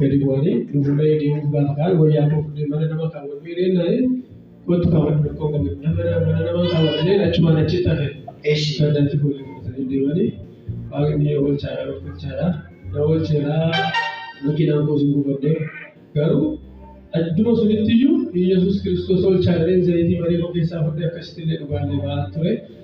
gadi bu'anii fuulduraa deemuuf gaafa ka'an wayyaa koo fuudhee mana nama kaawwadhu jedhee naa'ee kottu kaawwadhu rakkoo qabu nama mana nama kaawwadhanii achumaan achitti hafe Eshi. dandatti fuudhee fudhatanii deemanii waaqni oolchaadha oolchaadha na oolcheeraa makiinaan koo sin gubadde garuu adduma sunitti iyyuu Iyyasuus Kiristoos oolchaadha jedheen zayitii marii koo keessaa fudhee akkasitti illee dhugaallee ba'aa ture.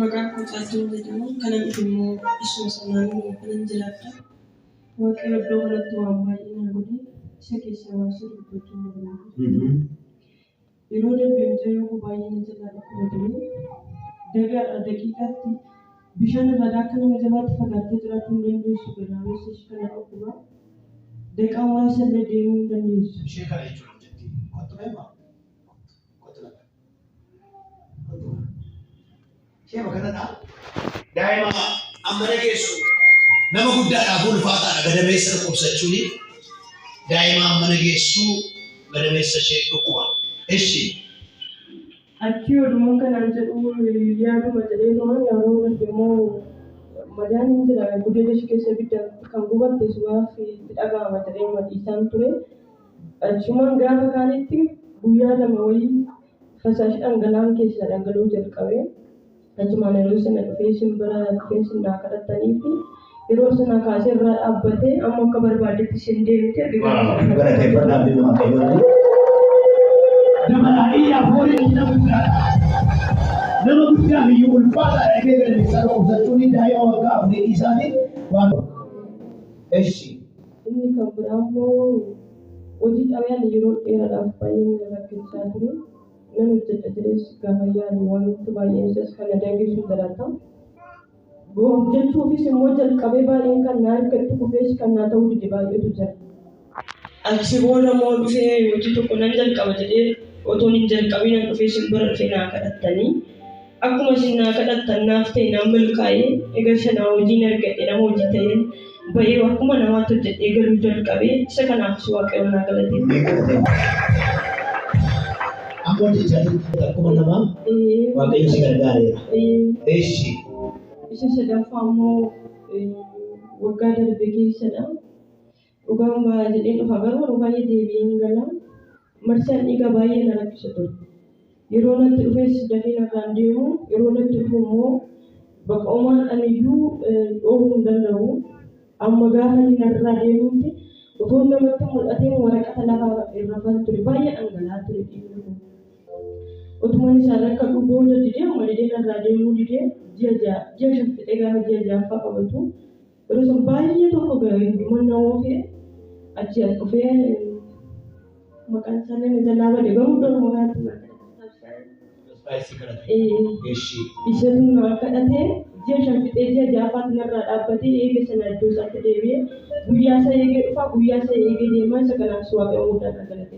Maqaan koo Caaltuun jedhama. Kanan dhufe immoo isuma sanaan kanan jiraadha. Waaqayyo iddoo kanatti waan baay'ee naa godhe. Isa keessaa waan sii dubbachuun barbaada. Yeroo darbe mucayyoo koo baay'ee na jalaa dhukkuba ture. Dagaadha daqiiqaatti bishaan irraa akka nama jabaatti fagaattee jiraachuu hin dandeessu. Gadaamessa ishii kana dhukkuba. Daqaa muraasa illee deemuu hin dandeessu. Ishee kana jechuun hojjetti. Kottu mee maam. Kottu lafa. Ishee bakka kanaa daa'ima amma dhageessu nama guddaadhaaf ulfaataadha gadameessa dhukkubsachuun daa'ima amma dhageessu gadameessa ishee dhukkuba. Eshi Achi odumaan kanaan jedhu yaaduma jedheetuma yeroo darbe immoo madaan hin jira gudeeda ishee keessa ibidda kan gubatte sumaaf itti dhaga'ama jedhee madhiisaan ture. Achumaan gaafa kaanitti guyyaa lama wayii fasaashi dhangala'aan keessaa dhangala'uu jalqabe. Achumaan yeroo sana dhufee isin bira dhufee isin naa kadhattanii fi yeroo sana kaasee irraa dhaabbatee amma akka barbaaddetti isin deemte erga gaafa sana Galateeffadhaa fi nama fayyadu. Dabalaa iyyaa fooniin nama guddaadha. Nama guddaa biyya ulfaataa dhagee galateessaa dhukkubsachuun daa'ima waggaa afurii dhiisaatiin waan Eshi. Inni kan biraa immoo hojii xalayaan yeroo dheeraadhaaf baay'een na rakkachaa ture. Nan hojjedha jedhees gaafan yaadu wanti baay'een isas kan na danqeessu jiraata. Hojjechuufis immoo jalqabee baay'een kan na argadhu kufees kan naa ta'uu dide baay'eetu jira. Achi booda immoo dhufee hojii tokko nan jalqaba jedhee otoon hin jalqabiin an dhufee isin bira dhufee naa kadhattanii. Akkuma isin naa kadhattan naaf ta'e naan milkaa'e egaa isa naa hojiin argadhe nama hojii ta'een ba'ee akkuma namaatti hojjedhee galuu jalqabe isa kanaafis waaqayyoon naa galateeffadha. Amma hojii isaanii akkuma namaa waaqayyo si gargaareera. Eessi. Isa sadaffaa immoo waggaa darbe keessadha. Dhugaan baha jedheen dhufa garuu yeroo baay'ee deebi'ee hin gala. Marsaan dhiigaa baay'ee na rakkisa ture. Yeroo natti dhufes dafee narraa hin deemu. Yeroo natti dhufu immoo bakka homaan aniyyuu dhoowwuu hin danda'u. Amma gaafa inni narraa deemutti utuun namatti mul'ateen waraqata lafaa irrafan ture. Baay'ee dhangala'aa ture dhiigni kun. Utuman isaan rakkadhuu booda didee amma didee narraa deemuu didee ji'a ja'a ji'a shan fixee gaafa ji'a ja'affaa qabatu Yeroo san baay'ee tokko gahe hundumaan na oofee achi as dhufee maqaan isaallee na jalaa bade garuu iddoo maqaatti na Ispaayisii kadhate. Ee, Eshi. isatu na kadhatee ji'a shan fixee ji'a ja'affaatti narraa dhaabbatee eega sana iddoo isaatti deebi'ee guyyaa isaa eegee dhufaa guyyaa isaa eegee deemaa isa kanaafis waaqayyoon guddaa kan galateeffatu.